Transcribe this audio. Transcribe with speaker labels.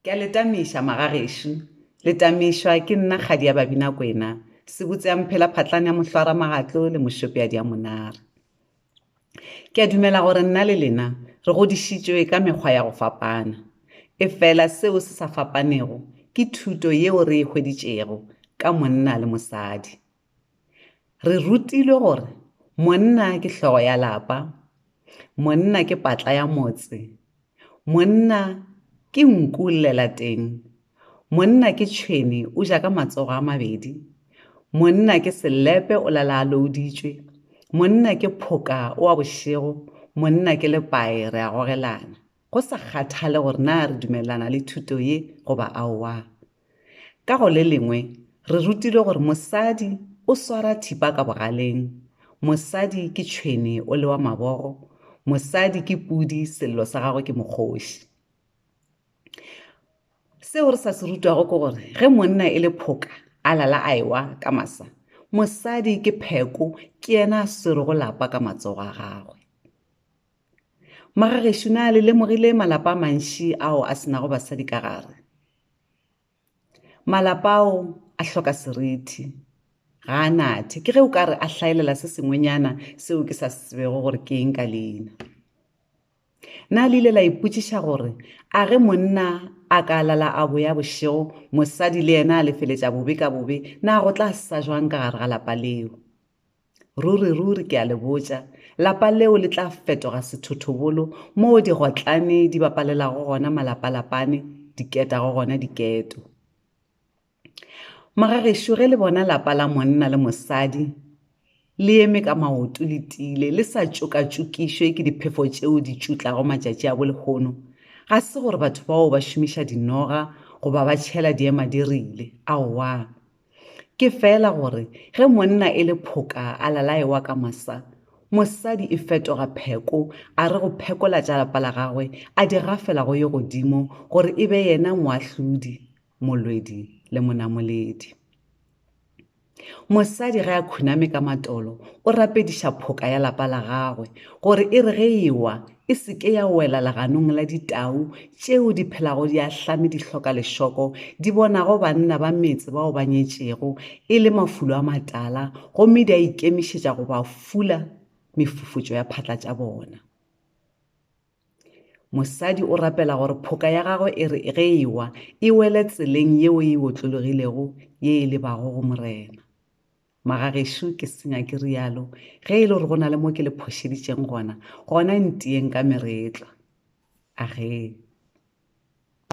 Speaker 1: Ke a le tamiša magagešo. Le tamišwa ke nna kgadi ya Babinakwena, sebotse ya mphela phatlane ya mohlwara magatlo le mošopeadi ya monare. Ke a dumela gore nna le lena re godišitšwe ka mekgwa ya go fapana. Efela seo se sa fapanego ke thuto yeo re e hweditšego ka monna le mosadi. Re rutilwe gore monna ke hlogo ya lapa, monna ke patla ya motse, monna ke nku llelateng, monna ke tšhwene o ja ka matsogo a mabedi, monna ke selepe o lala a louditšwe, monna ke phoka o a bošego, monna ke lepae re a gogelana. go sa kgathale gore na re dumelelana le thuto ye goba aowa. Ka go le lengwe, re rutilwe gore mosadi o swara thipa ka bogaleng, mosadi ke tšhwene o le wa mabogo, mosadi ke pudi sello sa gagwe ke mokgoši. Seo re sa se rutwago ke gore ge monna e le phoka a lala a ewa ka masa, mosadi ke pheko ke yena a swerego lapa ka matsogo a gagwe. Mara gešo na le lemogile malapa a mantši ao a senago basadi ka gare? Malapa ao a hloka serithi. Ga a nathe. Ke ge o ka re a hlaelela se sengwenyana seo ke sa se tsebego gore ke eng ka leina. Na le ile la ipotšiša gore a ge monna a ka lala a boya bošego mosadi le yena a lefeletša bobe ka bobe na go tla sa jwang ka gare ga lapa leo? Ruri-ruri ke a le botša, lapa leo le tla fetoga sethothobolo moo digotlane di bapalelago gona malapalapane, di ketago gona diketo. Magagešo ge le bona lapa la monna le mosadi le eme ka maoto le tiile, le sa tšokatšokišwe ke diphefo tšeo di tšutlago matšatši a bolehono, ga se gore batho bao ba šomiša dinoga goba ba tšhela diemadirile, aowa. ke fela gore ge monna e le phoka a lalaewa ka masa mosadi e fetoga pheko a re go phekola tša lapa la gagwe a di gafela go ye godimo gore e be yena moahlodi molwedi le monamoledi mosadi ge a khuname ka matolo o rapediša phoka ya lapa la gagwe gore e re ge ewa e se ke ya wela leganong la ditau tšeo di phelago di ahlame di hloka lešoko, di bonago banna ba metse bao ba nyetšego e le mafulo a matala gomme di a ikemišetša go ba fula mefufutšo ya phatla tša bona. Mosadi o rapela gore phoka ya gagwe e re ge e wa e wele tseleng yeo e otlologilego ye e lebago go Morena. Magagešo, ke senya ke rialo, ge e le gore go na le mo ke le phošeditšeng gona, gona ntieng ka meretlwa. Agee.